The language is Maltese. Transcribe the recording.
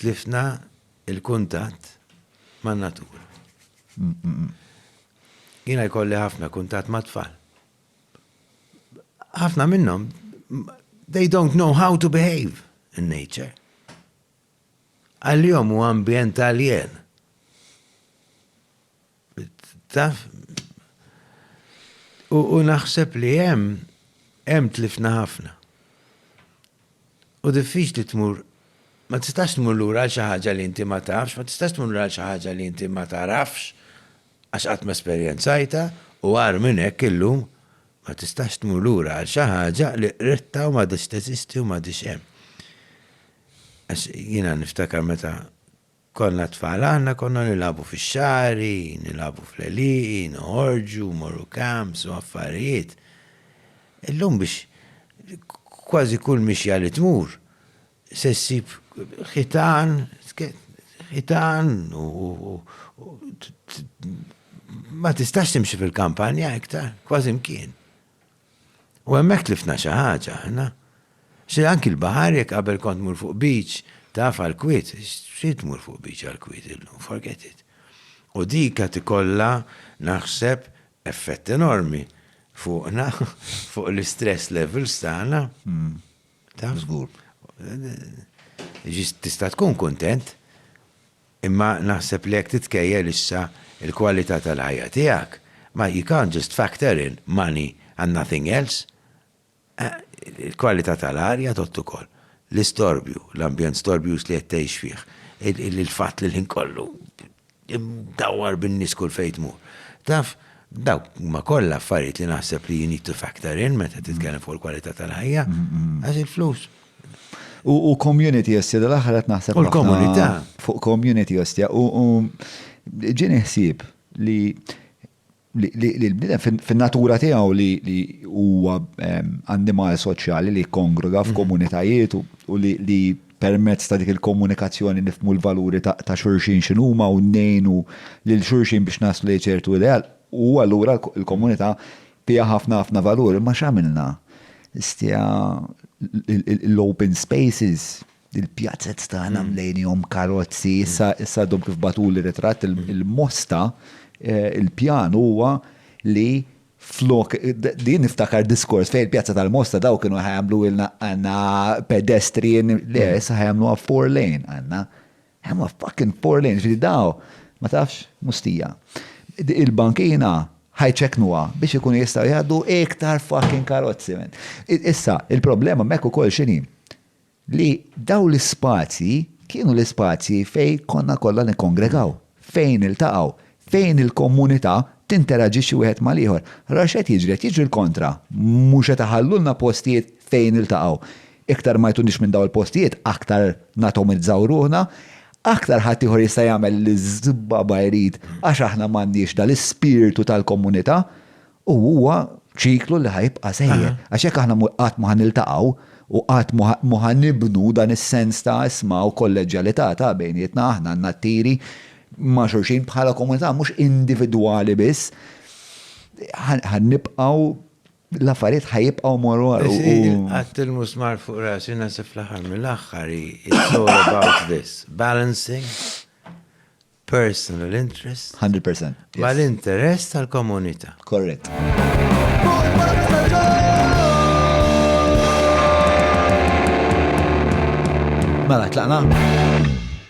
Tlifna l-kuntatt man-natura. Jiena jkolli ħafna kuntatt mat-tfal. Ħafna minnhom they don't know how to behave in nature. Għal-jom u ambjent alien. Taf, u naħseb li hemm hemm tlifna ħafna. U diffiċli tmur, ma tistax tmur lura għal xi ħaġa li inti ma tafx, ma tistax tmur lura għal xi ħaġa li inti ma tarafx, għax qatt ma esperjenzajtha, u agħar minn hekk illum ma tistax tmur lura għal xi ħaġa li qridtha u m'għadhiex teżisti u m'għadhiex hemm. Għax jiena niftakar meta Konna tfal aħna konna nilagħbu fix-xagħri, nilagħbu fl-għelieqi, noħorġu, mmorru camps u affarijiet. Illum biex kważi kull mixja li tmur se ssib ħitan, ħitan u ma tistax timxi fil-kampanja iktar, kważi mkien. U hemmhekk tlifna xi ħaġa aħna. Xi anki l-baħar jekk qabel kont tmur fuq beach taf għall-kwiet, xi tmur fuq beach għall-kwiet illum, forget it. U dik qed ikollha naħseb effett enormi fuqna, fuq l-istress levels tagħna. Taf? Żgur. Tista' tkun kuntent. Imma naħseb li jekk titkejjel issa il-kwalità tal-ħajja tiegħek ma you can't just factor in money and nothing else. Il-kwalità tal-arja tgħodd ukoll. L-istorbju, l-ambjent storbjuż li qed tgħix fih, il-fatt li l-ħin kollu imdawwar bin-nies kull fejn tmur. Taf, dawk huma kollha affarijiet li naħseb li you need to factor in meta titkellem fuq il-kwalità tal-ħajja. Għax il-flus U community ostia, dal-axħar għat naħseb. U l-komunità. Fuq community ostia. U ġini ħsib li li l-bnidem fin-natura tiegħu li huwa ehm, annimal soċjali li kongruga mhm. f'komunitajiet u li permezz ta' dik il-komunikazzjoni nifmu l-valuri ta' xurxin x'inhuma u nejnu lil xurxin biex naslu ċertu ideal u allura l-komunità Fiha ħafna ħafna valur imma x'għamilna? Stija l-open spaces, il-pjazez tagħna mlejnihom karozzi, issa issa għadhom kif bagħtuli ritratt il-Mosta il-pjan huwa li flok din niftakar diskors fejn il-Pjazza tal-Mosta daw kienu ħajamlu ilna għandna pedestrian le issa ħajamluha four lane għandna. I'm a fucking poor lane, ġifiri daw, ma tafx, mustija. Il-bankina ħajċeknuha biex ikun jistaw jgħaddu iktar fucking karozzi. Issa, il-problema mekku kol xini li daw l-spazji kienu l-spazji fej konna kollha nikkongregaw, fejn il-taqaw, fejn il-komunità tinteraġixxi wieħed mal-ieħor. Ara x'qed jiġri, qed jiġri l-kontra. Mhux qed iħallulna postijiet fejn niltaqgħu. Iktar ma jtunix minn dawn il-postijiet, aktar natomizzaw ruħna, aktar ħaddieħor jista' jagħmel li żbaba jrid għax aħna m'għandniex dal-ispirtu tal-komunità. U huwa ċiklu li ħa jibqa' sejjer. Għax jekk aħna qatt ma ħa niltaqgħu u qatt ma ħa nibnu dan is-sens ta' isma' u kolleġġjalità ta' bejnietna, aħna għandna t-tiri ma' xulxin bħala komunità mhux individwali biss, ħa nibqgħu l-affarijiet ħa jibqgħu jmorru għal u. Qatt il-musmar fuq rasi naħseb fl-aħħar mill-aħħar hi it's all about this, balancing personal interest. 100%. Ma l-interess tal-komunità. Korrett. Mela, tlaqna?